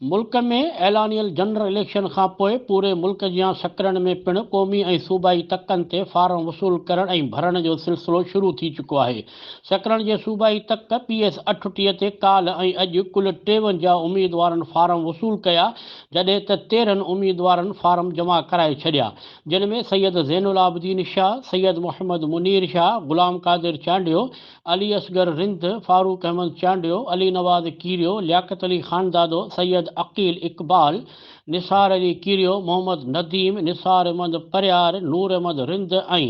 ملڪ ۾ اعلانيل general election کانپوء پوري ملڪ جيان سڪرنڊ ۾ پڻ قومي ۽ صوبائي تڪن تي فارم وصول ڪرڻ ۽ ڀرڻ جو سلسلو شروع ٿي چڪو آهي سڪرنڊ جي صوبائي تڪ پي ايس اٺٽيهه تي ڪالهه ۽ اڄ ڪل ٽيونجاهه اميدوارن فارم وصول ڪيا جڏهن ته تيرهن اميدوارن فارم جمع ڪرائي ڇڏيا جن ۾ سيد زين العابدين شاهه، سيد محمد منير شاهه، غلام قادر چانڊيو، علي اصغر رند، فاروق احمد چانڊيو، علي نواز ڪيريو، لياقت علي خاندادو، سيد عقيل اقبال، نثار علي ڪيريو، محمد نديم، نثار احمد پرهيار، نور احمد رند ۽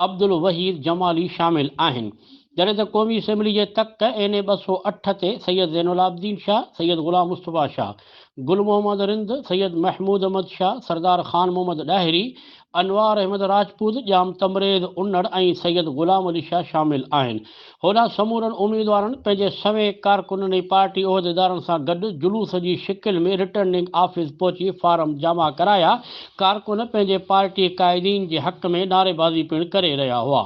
عبدالوحيد جمالي شامل آهن، جڏهن ته قومي اسيمبلي جي تخت اين اي ٻه سؤ اٺ تي سيد زين العابدين شاهه، سيد غلام مصطفيٰ شاهه، گل محمد رند، سيد محمود احمد شاهه، سردار خان محمد ڏاهري، انوار احمد راجپوت، ڄام تمريز انڙ ۽ سيد غلام علي شاهه شامل آهن. هوڏانهن سمورن اميدوارن پنهنجي سوين ڪارڪنن ۽ پارٽي عهديدارن سان گڏ جلوس جي شڪل ۾ رٽرننگ آفيس پهچي فارم جمع ڪرايا، ڪارڪن پنهنجي پارٽي قائدين جي حق ۾ نعريبازي پڻ ڪري رهيا هئا.